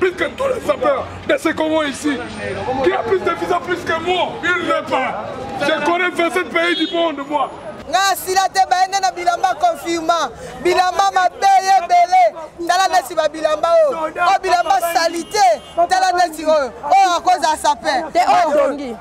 Plus que tous les sapeurs de ce Congo ici, qui a plus de visa plus que moi, il n'est pas. Je connais 27 pays du monde, moi. nga asila te bayende na bilamba confirma bilamba mabe ye ebele tala neti babilamba oyo oyo bilamba salite tala neti oyo oyo akozala sape te oyo dongi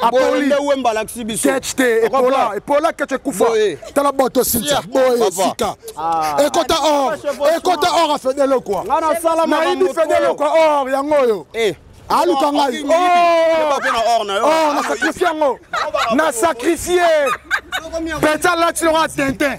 apoli nde wemba alakisi biso ketch te epola epola ketch ekufa tala bato sintia boye sika ah. ekota or ekota or ya fedele kwa nayibi fedele kwa or yango oyo eh. aluka ngai or na sacrifie yango na sacrifie peta latilonga tintin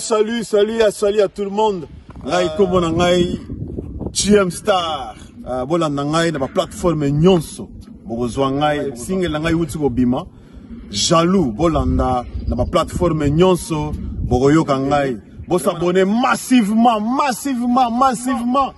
Salut, salut, à, salut à tout le monde. Ngai euh, kombo na ngai GM Star. Euh, bolanda ngai na ba plateforme nyonso. Bokozwa ngai single na ngai uti kobima. Jaloux bolanda na ba plateforme nyonso bokoyoka ngai. Bosabone massivement, massivement, massivement.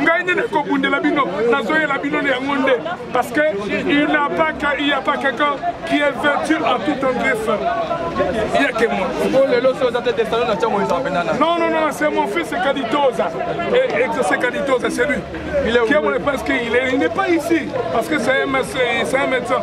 ngai nde nakobundela bino nazoyela bino na yango nde parce que il n'a pas il n'y a pas quelqu'un qui est vertu en tout tendresse il y a que moi oh, lelo so oza te testano na ntango eza mpe nana non non non c'est mon fils kaditoza et exaucé kaditoza c'est lui qui est mon parce qu'il n'est pas ici parce que c'est un médecin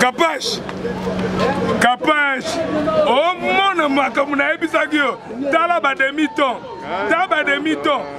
kapash kapash omona makambo nayebisaki yo tala bademi ton ta bademi ton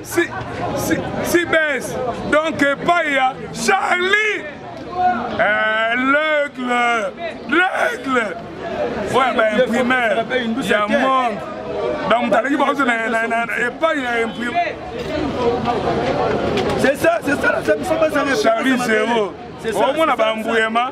si, si, si base donc epai ya charlie eh, l'aigle l'aigle oya baimprimaire ya monde donc moto aleki bakozo epai ya imprime c'est ça c'est ça charlie zero omona bambuyema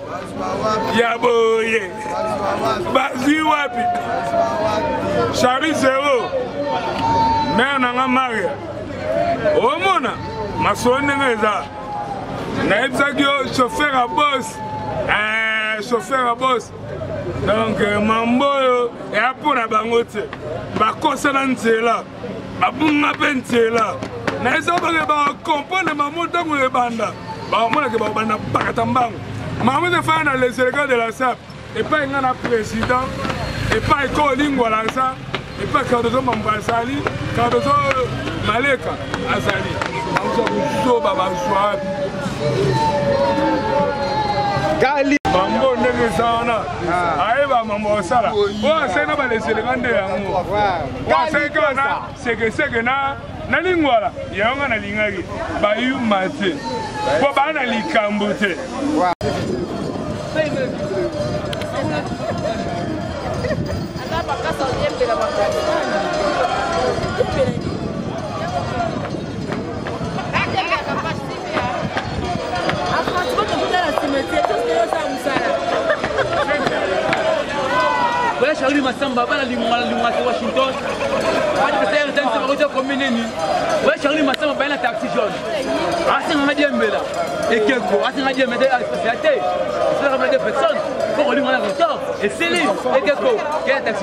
ya boye bazwi wapi chari zero mare na nga maria omona masolo ndenge eza nayebisaki yo chauffeur ya bos eh, chauffeur ya bos donc mambo oyo eya mpo na bango te bakosa na nzela babunga mpe nzela na eza bake bakomprendre mamo ntango ebanda bamonake bakobanda bakata mbango mamo ezefaya na les elegants de la sap epai ngai na président epai kolingwa laza epai cardozo mambo azali cardozo maleka azali baza kozoba bazwa wapi kali bango ndenge eza wana ah. ayeba mambo asala oyo asali na baleselenga nde yango waseki wana sekeseke na na lingwala yango nga nalingaki bayuma te mpo baa na likambo te Charlie Massamba bana linguma na linguma te Washington adversaire ntango nsima kotya komi nini oya Charlie Massamba baye na taxi jaune asenga nga diembela ekeko asenga diembe te aspesiya te esalaka bana de personne mpo kolinga na retard esili ekeko kela taxi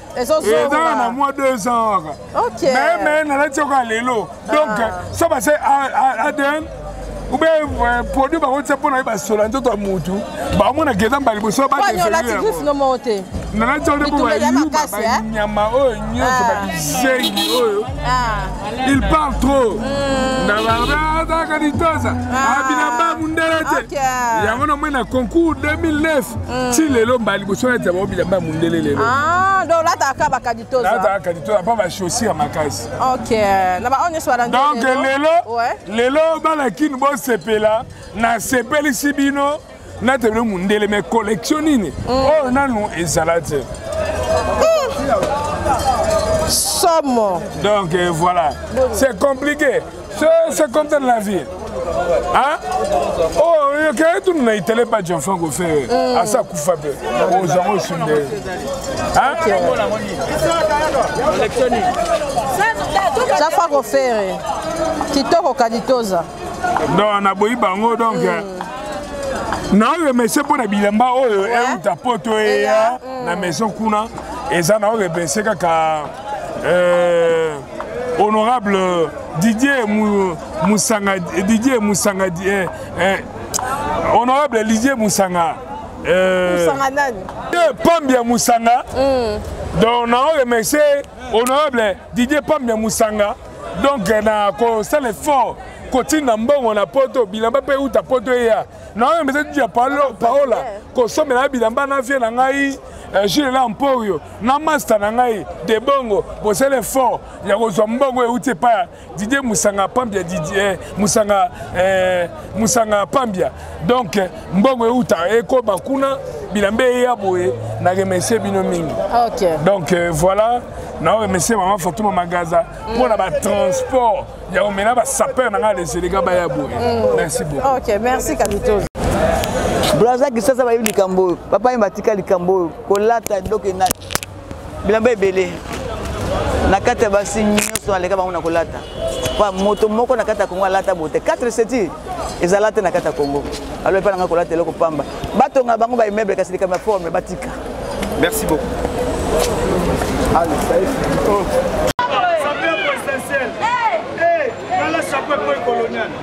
ezala na mwa deux ans kaka me me nalati yoka lelo donc ah. so base adn ube euh, produit bakotisa mpo na ye basola nzoto ya motu baomona keza mbala liboso badevelopte nalati yango nde mpo bayuba banyama oyo nyonso babizengi oyo il parle trop hmm. nabaazaka litosa ah. abina ah, mba mundele te yango namoni na concours 2009 mm. ti lelo mbala liboso nati yango bilamba ya mondele lelo ah, donc olataka bakaditolataka kaditola mpo bachaussure makasi ok na baoyo nyonso balandi donc lelo lelo bana kini bosepela nasepelisi bino nati bino mondele mai collection nini mm. oyo nanu ezala te somo donc euh, voilà c'est compliqué c'est comme ça la vie hein oh yoke tunu na itele ba jean franco fe mm. asa kufa be ozango sunde hein jean franco fere kitoko kaditoza donc naboyi bango donc mm. na remercie mpo na bilamba oyo euta poto eya na maison kuna eza na remercie kaka euh, honorable euh, didier musanga didier musanga eh, eh, honorable didier musanga euh, musanga nani pambi ya musanga mm. donc nao remercie honorable didier pambi ya musanga donc na kosala effort kotinda mbongo na poto bilamba mpe euta poto eya naoyo mpe etuti ya paola kosombela na bilamba na vie na ngai eh, jile na mporio na masta na ngai de bongo bosala effort ya kozwa mbongo euti epai didie musanga pambia didie eh, musanga eh, musanga pambia donc eh, mbongo euta ekoba kuna bilamba eya boye na remercie bino mingi okay. donc euh, voilà na remercie mama fatuma magaza mpo na batransport ya komela basapeur na ngai leseleka baya boye mm. merci beaucoup okay, merci kabitozo braza kisasa bayebi likambo oyo bapayemba atika likambo oyo kolata donc na bilamba ebele na kati ya basi nyonso naleka bango na kolata pa moto moko na kati ya kongo alata boye te 4 seti ezala te na kati ya kongo alo epai na ngai kolata eloko pamba batonga bango ba immeuble kasi likambo ya forme batika merci beaucoup Allez,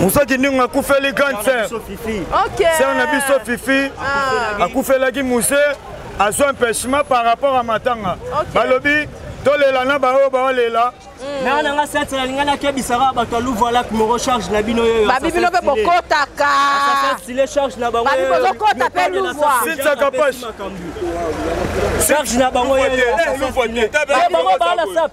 musa kindingu akufeli grande sœur sœur na biso fifi ah. akufelaki muse azwa empêchement par rapport à matanga balobi tolela na baoyo baolela mm. nanga nanga sete nalinga nakebisaka bato ya louvoilak moko charge na bino yoyo babi bino mpe bokotaka babi bozokota mpe louvoisintakapashe charge na bango yoyobango baala sap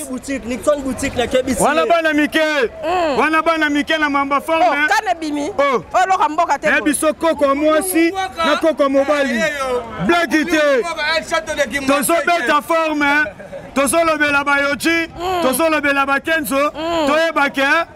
boutique Nixon boutique na kebisi wana bana mike mm. wana bana mike na mamba forme oh, kana bimi oh. oh loka mboka te eh biso koko mwasi na koko mobali eh, eh, blague te tozo beta forme tozolobela bayoji mm. tozolobela bakenzo mm. toyeba ke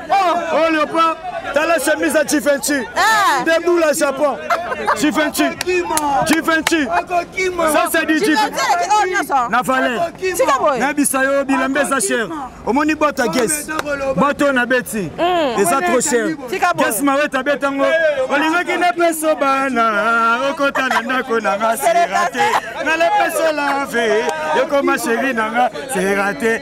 Oh, oh Léopard, t'as la chemise à Givenchy. Eh. Des boules à Japon. Givenchy. Givenchy. Ça, c'est du Givenchy. Na valais. Na bisayo, bilambe sa chère. Omoni bota guess. Boto na beti. Hmm. Et ça trop cher. Guess ma weta betango. Olingaki na peso bana. Okota na ndako na nga. C'est raté. Na le peso la vie. Yoko ma chérie na nga. C'est raté.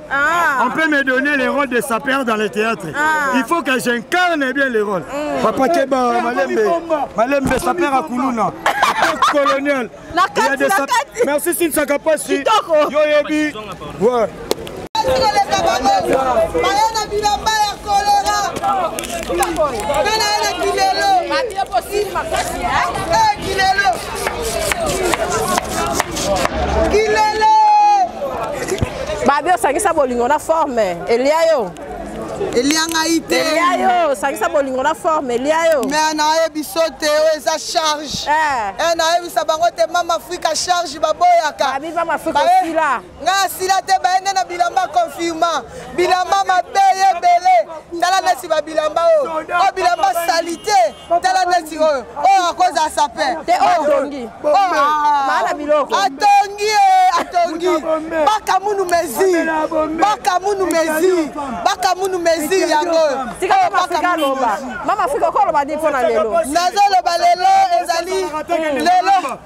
Ah. On peut me donner les rôles de sapeur dans le théâtre. Ah. Il faut que j'incarne bien les rôles. Mm. Papa Keba, eh, Malembe, Malembe, sapeur à Koulouna. colonel. La carte, la carte. Merci Sinsa Kapasi. Yo Yebi. Ouais. Bayana bilamba ya kolera. Bana na kilelo. Kilelo. babi osangisa bolingo na forme elia yo elia ngai te elia yo osangisa bolingo na forme elia yo me nayebi so te oyo eza charge eh. eh, nayebisa bango te mama afrika charge baboyaka babi mama afrika osila ngai asila te baye nde na bilamba confirma bilamba mabe ye ebele tala neti babilamba oyo oyo bilamba salite tala neti oyo oyo akozala sape te oyo atongi maana biloko atongi ye atongi bakamunu mesure bakamunu mesure bakamunu mesure yango oyo mama afrika okoloba nini mpo na lelo nazoloba lelo ezali lelo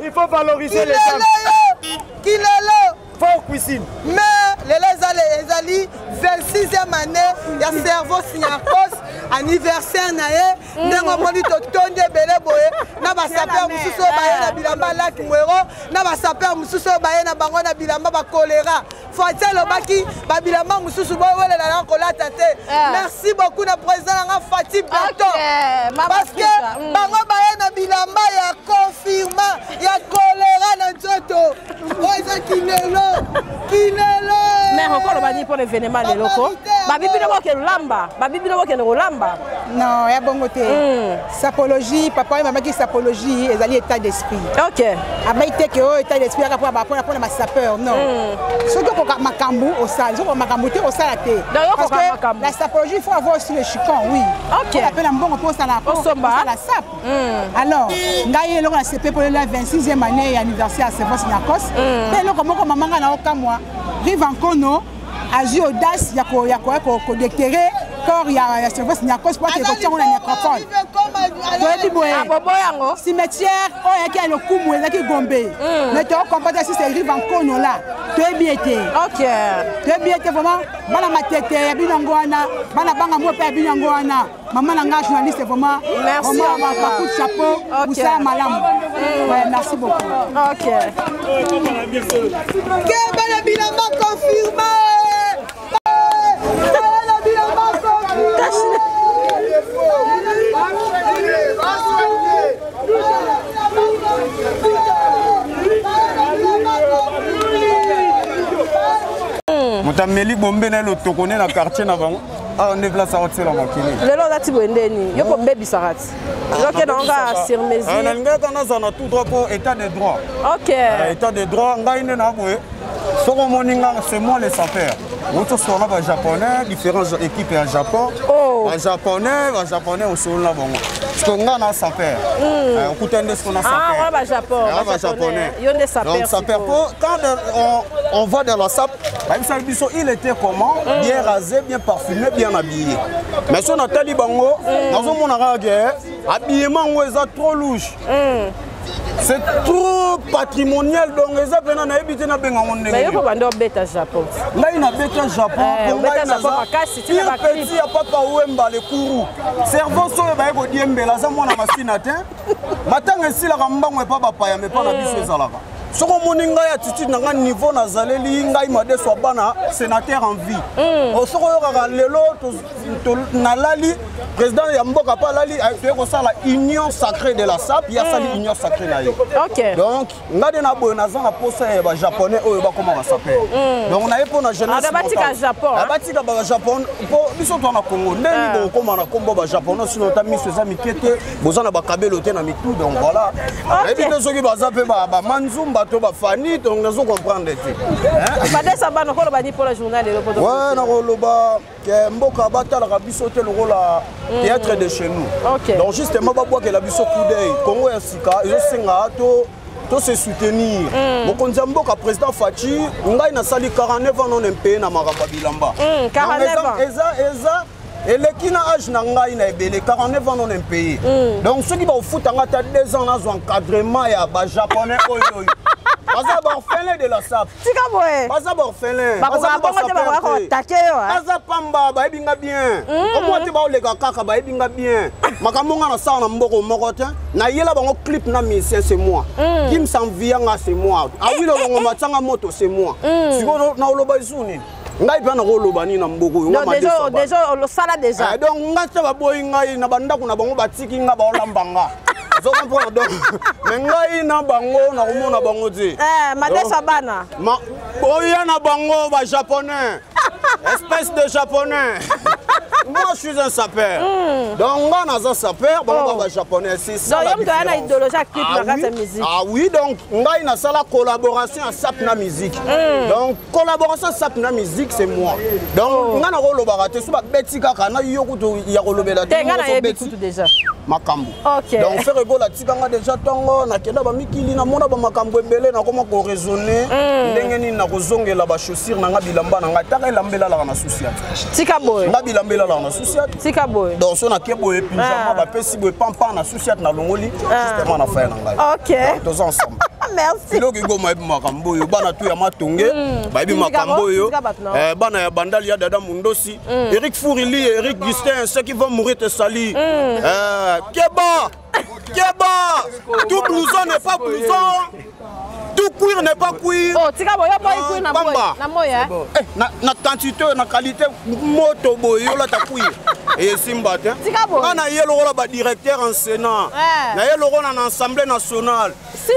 il faut valoriser les femmes kilelo fort cuisine mais lelo ezali ezali 26e année ya cerveau signarcos anniversaire na ye mm. ndenge omoni totondi ebele boye na basaper mosusu oyo baye na bilamba laki mwero na basaper mosusu oyo baye na bango na bilamba bakolera fati alobaki babilamba mosusu bowelela na kolata te eh. merci beaucoup na président na nga fati beton parce que mm. bango baye na bilamba ya confirma ya kolera na nzoto oyo eza kilelo kilelo mère okoloba nini mpona evenema leloko babibino bokende kolamba babibino bokende kolamba non ya bongo te mm. sapologie papa oyo mamaki sapologie ezali état d'esprit ok abai te ke oyo état d'esprit yaka mpona mpona mpona basapeur non hmm. soki okoka makambo osala soki makambo te osala te parce que la sapologie il faut avoir aussi le chicon oui ok ape na mbongo mpo osala osala sap hmm. alors ngai eloko na sepe mpolela 26e année ya anniversaire ya servance nyakos mpe hmm. eloko moko mamanga na okamwa rive ankono azwi audace ya koya koya kodektere corps ya, ya service nyakos po akende kotiango na nyacropole toyebi boye ah, cimetière oyo yaki ya lokumu ezalaki gombe hmm. mais tokompata si serive ankono la toyebi ye te toyebi ye te vraiment bana matete ya bino yango wana bana banga moko mpe ya bino yango wana Maman Nanga, journaliste, vraiment. Merci. Vraiment, ma, ma coup de chapeau. Okay. Vous savez, madame. Mm. Ouais, merci beaucoup. Ok. Kebala Bilama confirmé. Kebala Bilama confirmé. moto ameli bombe na ye lotoko ne na quartier na bango awa ah, nde place akotisela mokili lelo olati boye nde nini yo kobebisaka ti yoke nango kaka sur mesure nalingaki kaka nazala na tout droit mpo état de droit ok ah, état de droit ngai nde na boye soki omoni nga c'est moi le sapeur outi osolola bajaponais différence équipe ya japon oh. bajaponais bajaponais osolola bango siko nga na sapeur hmm. eh, okuta nde siko na sapeursapeurpo ah, eh, quand on va dans la sape bayebisaki biso il était comment mm. bien rasé bien parfumé bien habillé mais so natali bango mm. nazomona kaka ke eh, habillement yango eza trop louche mm. c'est trop patrimonial donc eza mpena nayebi te nabenga ngo ndengeyo banda obeta japon ngai nabeta japon eh, po ngai nazapire petit ya papa wemba le kuru cerveau soyo baye kodiembela aza mwana masina te matanga esilaka mbango epa bapaya mepa na biso ezalaka soki omoni ngai attitude na ngai niveau nazaleli ngai madeso ya bana sénateur en vie mm. oh, soki oyokaka lelo nalali président ya mboka mpe alali eh, toye kosala union sacrée de la sap ye asali mm. union sacrée na ye donc ngai nde na boye naza na posa ya bajaponais oyo bakoma basape mm. donc naye mpo na jeunessabatika ah, bajapon mpo biso twa na congo ndenge ah. bokokoma na nkombo bajapon sino ta miso eza mike te boza na bakabelo te na mitu donc voilà nayebi te soki baza mpe bamanzumba to bafani donc nazo comprendre te ouais nakoloba ke mboka batalaka biso te lokola mm. théâtre de chez nous donc justement babwakela biso coup d'oeil kongo ya sika ezosenga to to se soutenir mm. mokonzi ya mboka président faci ngai nasali 49 ans non impeye na makambo ya bilamba mm, eza eleki na age na ngai na ebele 49 ans non impayé mm. donc soki bakofuta ngai ata 2 ans nazwa encadrement ya bajaponais oyo oyo baza baorphelin de la sap tika boye baza baorphelin baza pamba bayebi nga bien mm. omwa te baoleka kaka bayebi nga bien makambo nga nasala na mboko moko te nayela bango clip na musicien c'est moi mm. kim sanvia nga c'est moi awilolongo matianga moto c'est moi mm. sikoyo naoloba esu nini ngai mpe nakoloba nini na mboka oyo osala deja eh, donc ngai te baboyi ngai na bandako na bango batiki ngai baolamba nga ozokomprendre donc me ngai na bango nakomona bango te eh, madesa bana oya na bango bajaponais espèce de japonais moi je suis un sapeur mm. donc nga naza sapeur bango oh. ba japonais c'est ça donc yom toyana idéologie active ah na kati ya musique ah oui donc ngai nasala collaboration ya sap na musique mm. donc collaboration sap na musique c'est moi donc oh. nga nakolobaka te so babeti kaka na yo kutu ya kolobela te nga nayebi kutu déjà makambo okay. donc fere egola atika nga déjà ntongo nakenda bamikili namona bamakambo ebele nakoma koraisonne mm. ndenge nini nakozongela bachaussure na nga bilamba na ngai taka elamba elalaka na susi tika boye nga bilamba elalaka na susi tika boye donc so nake boye pinjama ah. bapesi ti boye pampa na susi ati nalongoli ah. justement na faya na ngai ah, toza ensemble merci eloko ekoma yebi makambo oyo bana tu ya matonge hmm. bayebi makambo oyo eh, bana ya bandali ya dada mondosi hmm. eric fourili eric gustin ce qui va mourir te sali hmm. eh, keba keba tout blouson n'est pas blouson tout cuir n'est pas cuir oh tika boyo boy ah, cuir na boy na moya eh? eh na na quantité na qualité moto boy yola ta cuir et simba te tika boy na ye lokola ba directeur en sénat eh. na ye lokola na assemblée nationale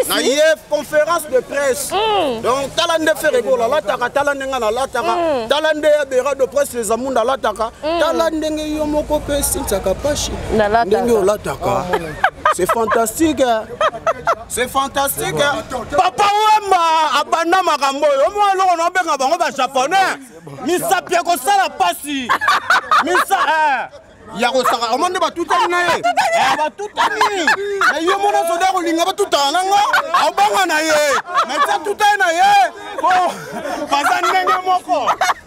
na ye conférence de presse mm. donc tala nde fere bola la taka tala nde nga na la taka mm. tala nde ya bera de presse les amunda la taka mm. tala ndenge yo moko pe sintsaka pashi ndenge olataka oh, c'est fantastique hein. C'est fantastique. Hein? Papa Wemba abanda makambo oyo omona eloko na obenga bango ba japonais misapi ya kosala pasi misa eh. ya kosaka omoni nde batutani na ye eh, batutani na ye mona soda kolinga batutana na nga abanga na ye mati atutani na ye po baza ndenge moko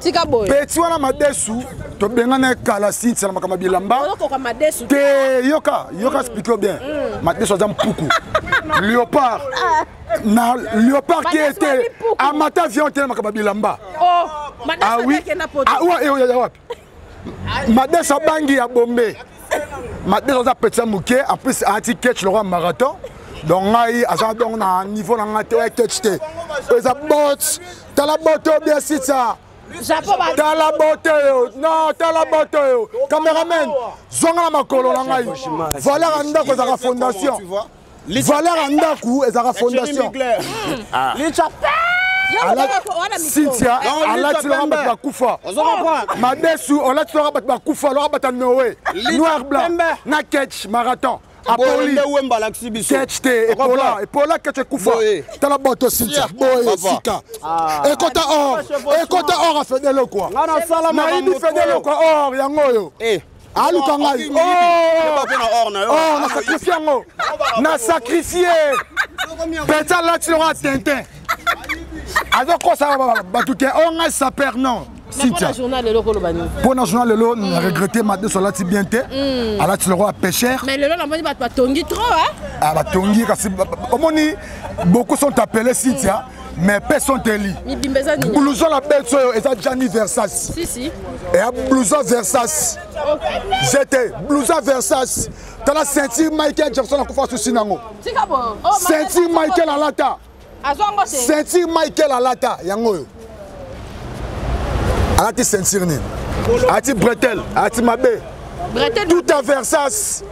tika boye peti wana madesu tobengana kala sintisana makambo ya bilamba te yoka yoka explike yo bien mm. madesu aza mpuku léopard ah. na léopard ki ete amata vion te na makambo ya bilamba oh, awi ah, awa eoyaya wapi madesa bangi ya bombe madesa aza petit moke en plus alati ketch lokola marathon donc ngai aza donc na niveau na ngai te oya ketch te oyo eza bot tala bot oyo bien sitsa tala bote oyo non tala bote oyo cameraman zonga na makolo na ngai valeur ya ndako ezalaka fondation valeur ya ndako ezalaka fondation ah. cynthia alati loka bato bakufa madesu olati loka bato bakufa loka bato ya noe noir blanc na ketch marathon apolikete epola epola kete ekufa tala boto sintia boye sika ah. ekota or ekota or afedele kua nayibi fedele kua or yango oyo eh. aluka ngai na sacrifie yango na sacrifie peta alati longo ya tintin azokosa bato te o ngai saper non cynthia mpo na journal lelo na regrette madeso alati bien te hmm. alati lokola pêcheur mais lelo namoni bato batongi trop ah, batongi kasi omoni beaucoup sont appelé cynthia mais mpe sonteli blouson na beti oyo eza jani versas eya blouson versas zete blouson versas tala ceinture michael jackson akufa susi nango oh, ceinture michael alata ceinture michael alata yango oyo alati ceinture nini alati bretel alati mabe tout à versas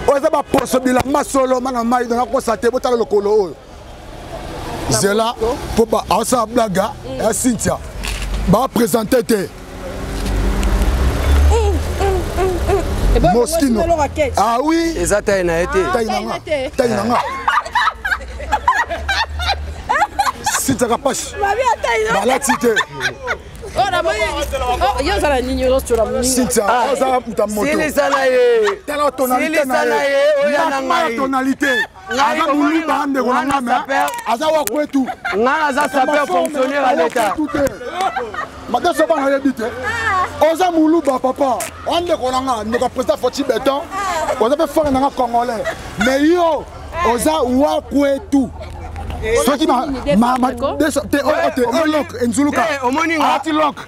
oyo eza baposo bilamba solo mana mai donakosate botala lokolo oyo zela mpo asala blaga mm. ya cynthia bapresente te mm, mm, moskino ah oui eza tai na ye te ah, tai na nga tai na nga sitiaka pasi balati te cynthia oza moto tala tonalité na ye tonalité aza muluba ndeko na nga mais aza wa kwetu nga aza sapeur fonctionnaire ya leta mata soba na yebi te oza muluba papa wa ndeko na nga ndeko président foti beton oza mpe fana na nga congolais mais yo oza wa kwetu soki te elok enzuluka ati lok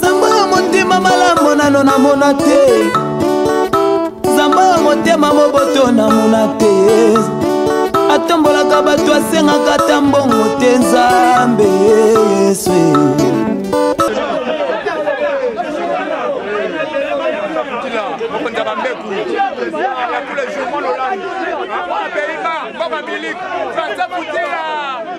zamba ya motema malamu nano namona te zamba ya motema moboto namona te atombolaka bato asengaka ata mbongo te nzambe yesu Baba Milik, François Boutella.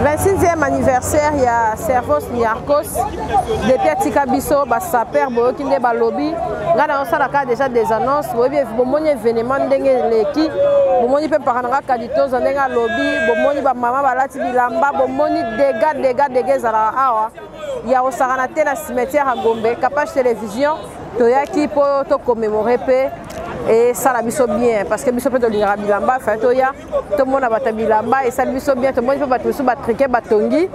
26e anniversaire ya servos niarcos depuis atika biso basaper boyoki nde balobi ngai nayosalaka déjà des annonces boyebi bomoni événement ndenge eleki bomoni mpe mpaka na nga tozo ndenge alobi bomoni bamama balati bilamba bomoni dega dega dega ezalaka awa ya kosakana te na cimetière ya gombe capage télévision toyaki mpo tokomemore mpe esala biso bien parce que biso mpe tolingaka bilamba fai toya tomona bato ya bilamba esali biso bien tomoni mpe bato mosusu batrike batongi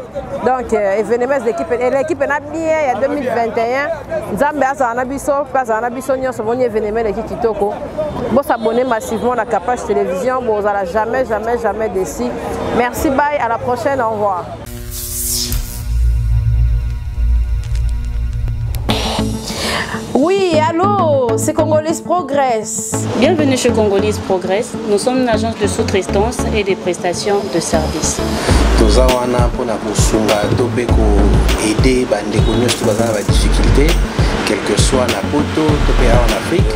donc euh, événement ekipe elekipe na bien ya 2021 nzambe azala na biso mpe azala na biso nyonso omoni événement eleki kitoko Bo s'abonner massivement na Kapash Télévision, bo zala jamais jamais jamais déçu. Merci bye, à la prochaine, au revoir. Oui, allô, c'est Congolese Progress. Bienvenue chez Congolese Progress. Nous sommes une agence de sous-traitance et des prestations de services. toza wana mpona kosunga to mpe koaide bandeko nyonso baza na badifficulté quelque soit na poto to mpe awa na afrique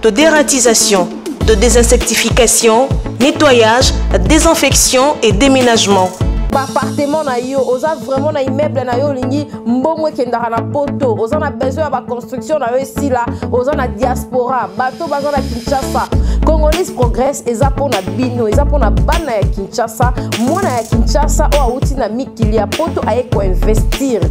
de dératisation, de désinsectification, nettoyage, désinfection et déménagement. baappartement na yo oza vraiment na immeuble na yo olingi mbongo ekendaka na poto oza na besoin ya baconstruction na yo esila oza na diaspora bato baza na kinshasa congolais progresse eza mpo na bino eza mpo na bana ya kinshasa mwana ya kinshasa oyo awuti na mikili ya poto aye koinvestire